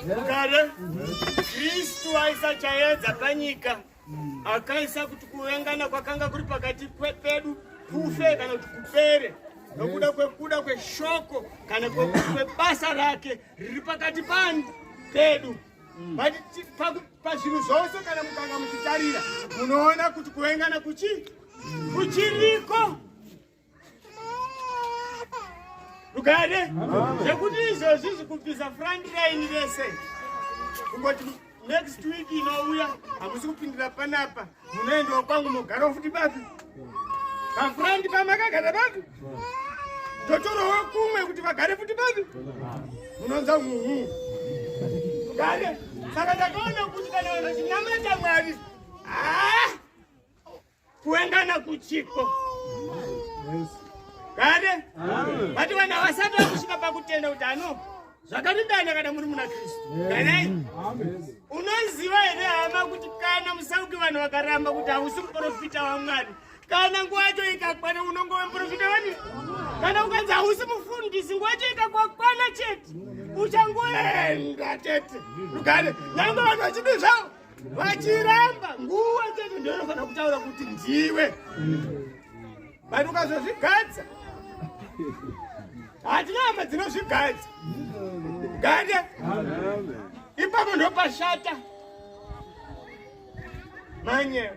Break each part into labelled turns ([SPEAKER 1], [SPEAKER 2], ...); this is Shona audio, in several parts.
[SPEAKER 1] Mukare, Kristu aisa chaedza panyika, akaisa kuti kuvengana kwakanga kuri pakati pedu kufe kana kuti kupere nokuda kwekuda kweshoko kana kwebasa rake riri pakati panu pedu pazvinhu zvose kana mukanga muchitarira munoona kuti kuvengana kuchi kuchiriko Ukade zvekuti izvozvi zvikubvisa front line rese kungoti next week inouya hamusi kupindira panapa munoendawo kwangu mogarawo futi bapi pafront pamakagara bapi totorowo kumwe kuti vagare futi bapi munonza uhu kade saka ndakaona kuti kana vanhu chinamata mwari haa ah! kuengana kuchiko kare vati vanhu havasati vakusvika pakutenda kuti ano zvakarindana kana muri muna kristu kanai unoziva here hama kuti kana musauki vanhu vakaramba kuti hausi muprofita wamwari kana nguva yacho ikakwana unonge wemuprofita wani kana ukanzi hausi mufundisi nguva yacho ikakwakwana chete uchangoenda tete rugare nyange vanhu vachidi zvavo vachiramba nguva chete ndoinofanira kutaura kuti ndiwe but ukazozvigadza hatina hama dzinozvigadza gade ipapo ndopashata manye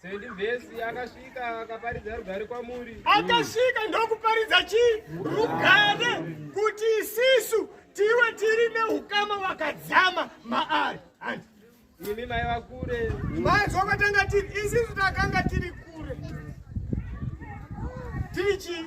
[SPEAKER 1] Sendi
[SPEAKER 2] vhesi akasvika akaparidza rugare kwamuri. Akasvika
[SPEAKER 1] ndokuparidza chii? Rugare kuti isisu tiwe tiri neukama wakadzama maari. Hanzi.
[SPEAKER 2] Imi mai vakure. Mai zvokatanga
[SPEAKER 1] tiri isisu takanga tiri kure. Tiri chii?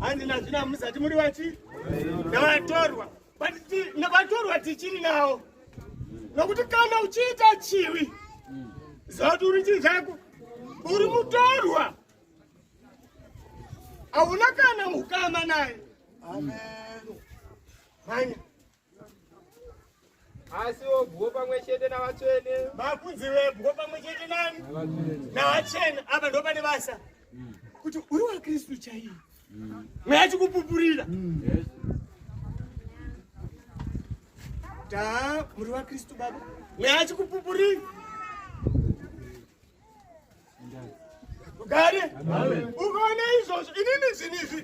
[SPEAKER 1] hanzi nazvino hamusati muri vati navatorwa vatorwa tichiri nawo nokuti kana uchiita chiwi zauti uri chii chako uri mutorwa hauna kana mukama naye mhanya
[SPEAKER 2] asi wobwo pamwe chete navatsvene makunzi webwo
[SPEAKER 1] pamwe chete nani navatsvene apa ndo pane basa kuti uri wakristu chaiye mweya chikupupurira ta muri wakristu baba mweya chikupupurira Gari. Ukaona izvozvo inini zvinhu izvi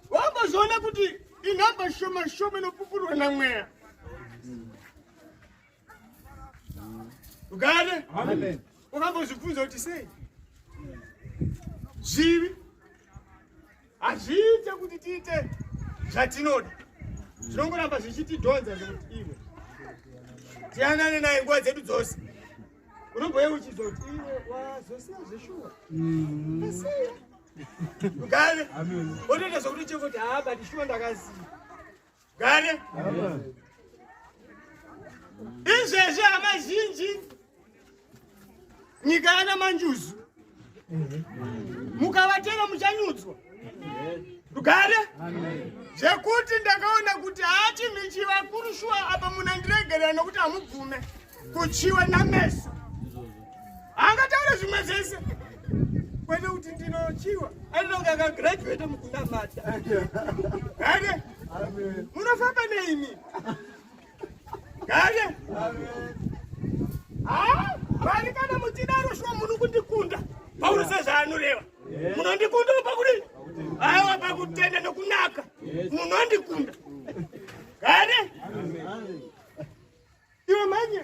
[SPEAKER 1] wambozoona kuti inhamba shoma shoma inopupurwa namweya. Gari. Ukambozvibvunza kuti sei? Zvivi hazviite kuti tiite zvatinoda zvinongoramba zvichitidhonza zvekuti iwe tiyanane naye nguva dzedu dzose. unobhoye uchizoti iwe wazosiya zveshuwa mm-hmm. asiya gane otoita zvokuti chekuti haa but shuwa ndakasiya gane izvezvi hama zhinji nyika yana manjuzu mukavatera muchanyudzwa rugare zvekuti ndakaona kuti hachinhu chivakuru shuwa apa munhu andiregerera nokuti hamubvume kuchiwa nameso angataure zvimwe zvese kwete kuti ndinochiwa ainonge akagraduate mukunamata ane munofamba neimi Kale. Ah, vani kana muchidaro shwa munhu kundikunda. Pauro sezvaanoreva. Munondikunda pakudini? Aiwa pakutenda nokunaka. Munondikunda. Kale. Iwe manya.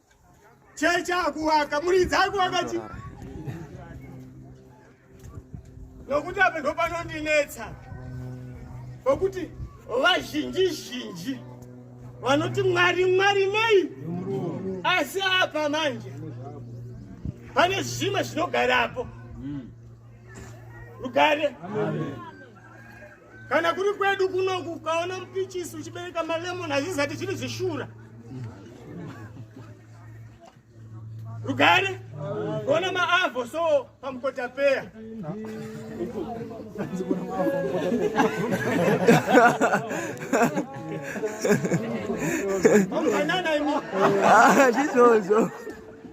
[SPEAKER 1] Cheche akuwaka, muridzi akuwaka chi. Nokuti apa ndo panondinetsa. Nokuti vazhinji zhinji vanoti mwari mwari nei? Asi apa manje pane zvimwe zvinogarapo. Rugare. Amen. kana kuri kwedu kunoku ukaona mupichisi uchibereka malemon hazvizati zviri zvishura rugare ona maavo so pamukotapeya zvizozo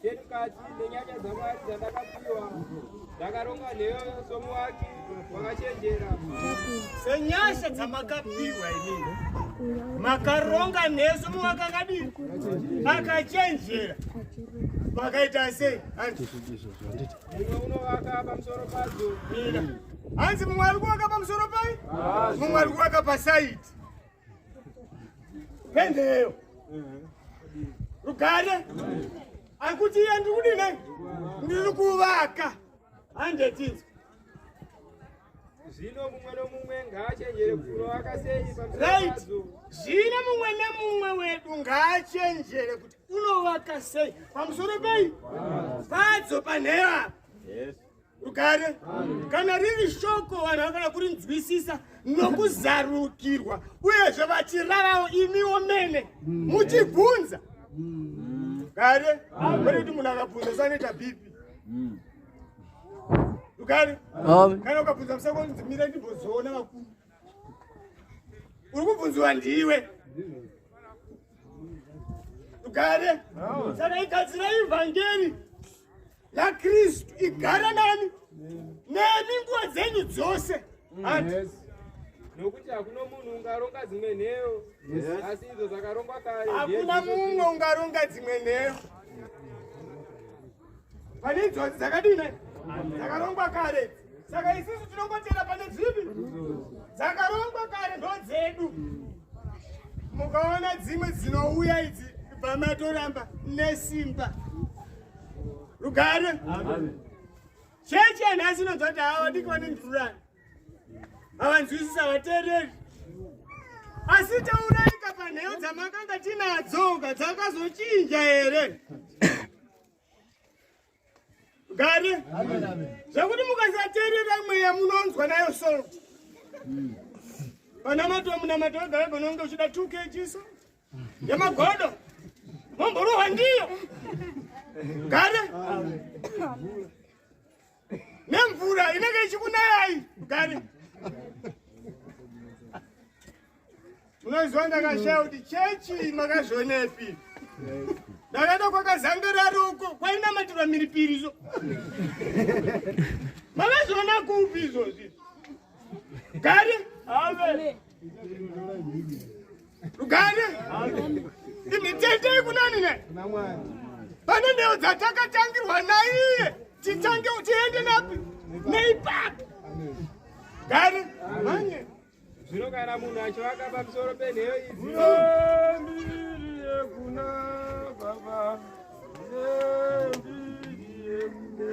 [SPEAKER 1] Chemukati nenyanya dzaMwari dzandakapiwa ndakaronga nheyo somuwaki wakachenjera. Senyasha dzamakapiwa inini makaronga nheyo somuwaki akadini akachenjera makaita sei hanzi mumwe unovaka pamusoro padzo
[SPEAKER 2] hanzi
[SPEAKER 1] mumwe ari kuvaka pamusoro pai mumwe ari kuvaka pasaiti Pendeyo. Rugare. Akuti iye ndiri kudini? Ndiri kuvaka. Handetizwa.
[SPEAKER 2] Zvino mumwe nomumwe ngaachenjere kurovaka sei pamusoro Right.
[SPEAKER 1] Zvino
[SPEAKER 2] mumwe
[SPEAKER 1] nemumwe wedu ngaachenjere kuti unovaka sei pamusoro pei? Padzo panheyo apa. rugare kana riri shoko vanhu vanofanira kurinzwisisa nokuzarukirwa uyezve vachirarawo imiwo mene muchibvunza rugare kwete kuti munhu akabvunza sanoita bhipi rugare kana ukabvunza musakonzi mira ndimbozoona vakuru uri kubvunziwa ndiwe tugare saka igadzira ivhangeri lakristu igara nani nemi nguva dzenyu dzose
[SPEAKER 2] nokuti hakuna munhu ungaronga dzimwe nheyo asi idzo dzakarongwa kare hakuna mumwe
[SPEAKER 1] ungaronga dzimwe nheyo pane njodzi dzakadini dzakarongwa kare saka isisu tinongotera pane dzipi dzakarongwa kare ndo dzedu mukaona dzimwe dzinouya idzi kubva matoramba nesimba rugare chechi yanhasi inonzwa kuti hawa ndikone ndurani havanzwisisa havateereri asi tauraika panheyo dzamakanga tinadzoka dzakazochinja here gare zvekuti mukasateerera mweya munonzwa nayo solo panamato munamato wegare panonge uchida two kgs yemagodo momborohwa ndiyo gare nemvura inenge ichikunayai gari unoziva ndakashaya kuti chechi makazvionepi ndakaenda kwakazangararo uko kwainamatirwa miripiri zo makazviona kupi izvozvi gari ave Rugare. Imitende ikunani ne. Pane ndeo dzatakatangirwa naiye. Titange tiende napi? Neipapi. Gare. Manye. Zvino kana
[SPEAKER 2] munhu achivaka pamusoro penheyo idzi.
[SPEAKER 1] Ndiri
[SPEAKER 2] yekuna baba. Ndiri yekuna.